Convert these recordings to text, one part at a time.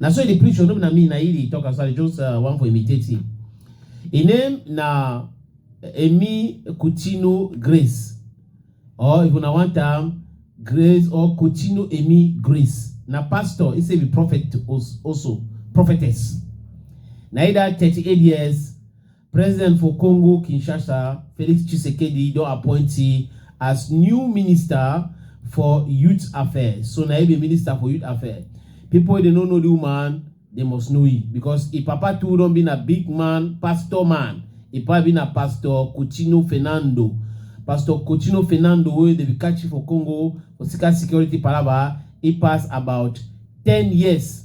na so e dey preach o no be na me na he dey talk am so i just uh, wan for imitate him him name na emi kutino grace or if una want am grace or kutino emi grace na pastor he say be prophet als- also prophetess na he that thirty-eight years President for Congo Kinshasa, Felix Tshisekedi don appoint he as new minister for youth affairs. So na he be minister for youth affairs. People wey dey no know the woman, they must know he because he papa too don be na big man, pastor man. He papa be na pastor Coutinho Fernando. Pastor Coutinho Fernando wey dey be catch for Congo for secret security palava, he pass about 10 years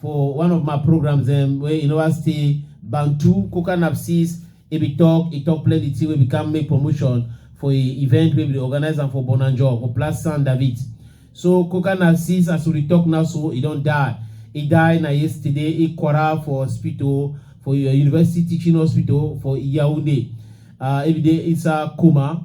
For one of my programs um, where you know I stay Bantu Coca Napsis, he be talk, he talk plenty thing wey we can make promotion for a event wey we dey organize am for Bonanjo for Place San David. So Coca Napsis as we dey talk now so he don die. He die na yesterday, he quarrel for hospital for your university teaching hospital for Yaoundé. Uh, he be dey inside coma.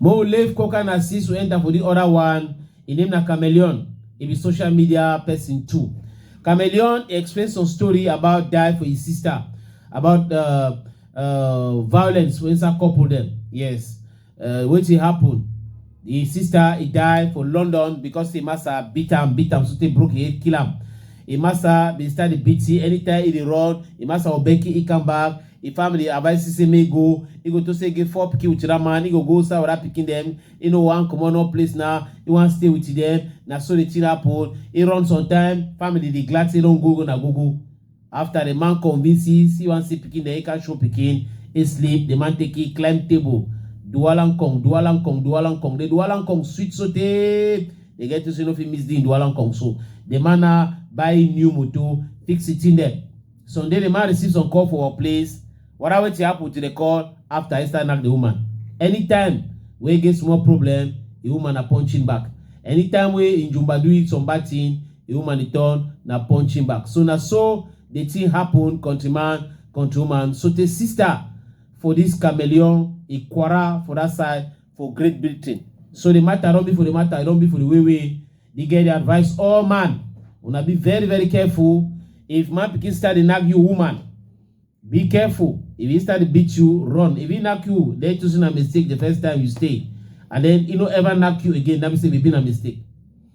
Mo leave Coca Narciso enter for the other one, im name na Chameleon, e be social media person too. Chameleon e explain some story about die for his sister, about uh, uh, violence for inside couple dem. Yes, uh, wetin happen? His sister e die for London because him master beat am, beat am, so they broke his head, kill am. Him master bin start dey beat him anytime he dey run. Him master Obeki he come back. Im family advise Cisse make e go, e go to say e get four pikin with dat man, e go go serve other pikin dem, e no wan comot no place na, e wan stay with dem, na so the thing happen, e run some time, family dey glad say e don go go na go go, after the man convince e say e wan see pikin dem, e come show pikin, e sleep, the man take e climb table, duwalankong, duwalankong, duwalankong, the duwalankong sweet so tey the girl to say e no fit miss the im duwalankong so the man na buy e new motor, fix e thing dem. Sunday the man receive some call for workplace wara wetin happen to the call after Esther knack the woman anytime wey e get small problem the woman na punching back anytime wey im jumba do it some bad thing the woman dey turn na punching back so na so the thing happen countryman countrywoman so tey sister for this chameleon ikwara for that side for Great Britain. So the matter don be for the matter, e don be for the way wey the girl dey advise all man. Una be very very careful. If man pikin start dey knack you woman, be careful. If he start dey beat you, run. If he knack you, then choosing a mistake the first time you stay. And then he no ever knack you again, that means say e be na mistake.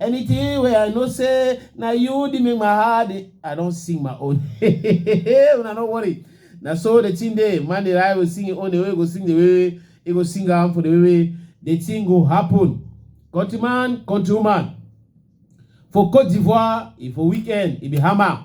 Anything wey I know say na you dey make my heart dey I don sing my own. Una no worry. Na so the thing dey. Man dey lie will sing him own the way he go sing the way he go sing am for the way wey the thing go happen. Countryman, countrywoman. For Cote d'Ivoire, e for weekend, e be hammer.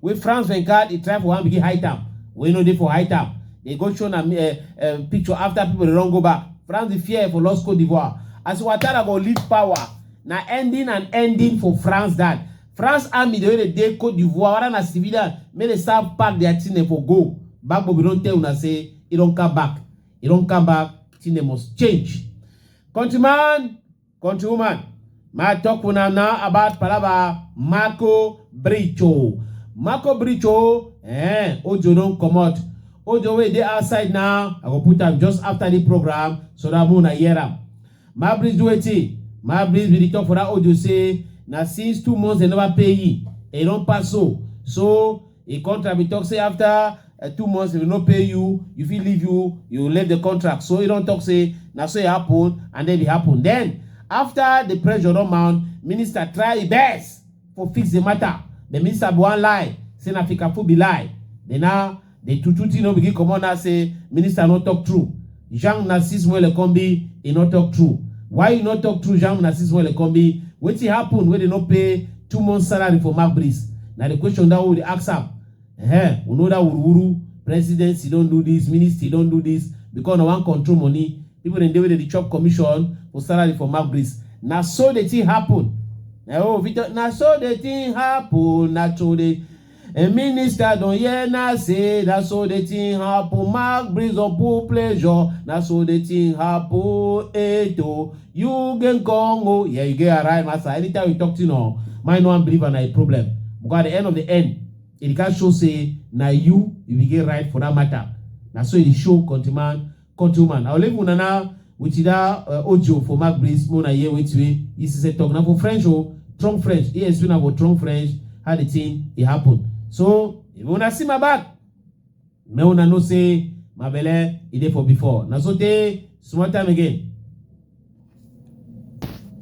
wey France bin call e try for one begin hide am wey no dey for hide am dey go show na eh, eh, picture after people dey run go back France dey fear for lost Cote d'Ivoire as Ouattara go leave power na ending and ending for France that France army dey wey dey dey Cote d'Ivoire whether na civilian make dey start pack their thing dem for go Gbagbo bin don tell una say e don come back e don come back thing dem must change countryman Country woman, my talk una now about palava Marco Bricho. Marco Bricho, eh, Ojo don comot. Ojo wey dey outside now, I go put am just after the program so that una hear am. My breeze do wetin? My breeze be the talk for that Ojo say na since two months dem never pay him. E don pass so. So Im contract bin tok say afta two months if dem no pay you, you fit leave you you leave di contract so im don tok say na so e happun and den e happun. Den afta di pressure don mount, minister try im best for fix di mata but minister bin wan lie say na fikafu be lie but now di true true tin don begin comot now say minister no tok true. Jean Narcisse Mwelekombi, e no talk true. Why you no talk true, Jean Narcisse Mwelekombi? Wetin happen wey dey no pay two months salary for Mark Breeze? Na the question that we dey ask am. Eh, we know that wuruwuru, presidency don do this, ministry don do this, because na wan control money. People dem dey wey dey dey chop commission for salary for Mark Breeze. Na so the thing happen. Na oh, Victor, na so the thing happen, na so the Em minister don hear na say na so the thing happen Mark breeze up full pleasure na so the thing happen eto you gain kong o yeah you get arrive massa anytime you talk thing on mind no wan believe am na a problem because at the end of the end e dey can show say na you you begin right for that matter na so e dey show countryman countryman i go leave una now with that uh, audio for mark breeze make una hear wetin wey he say talk na for french o strong french he explain am for strong french how the thing e happen so if una see my back make una know say my belle e dey for before na so tey small time again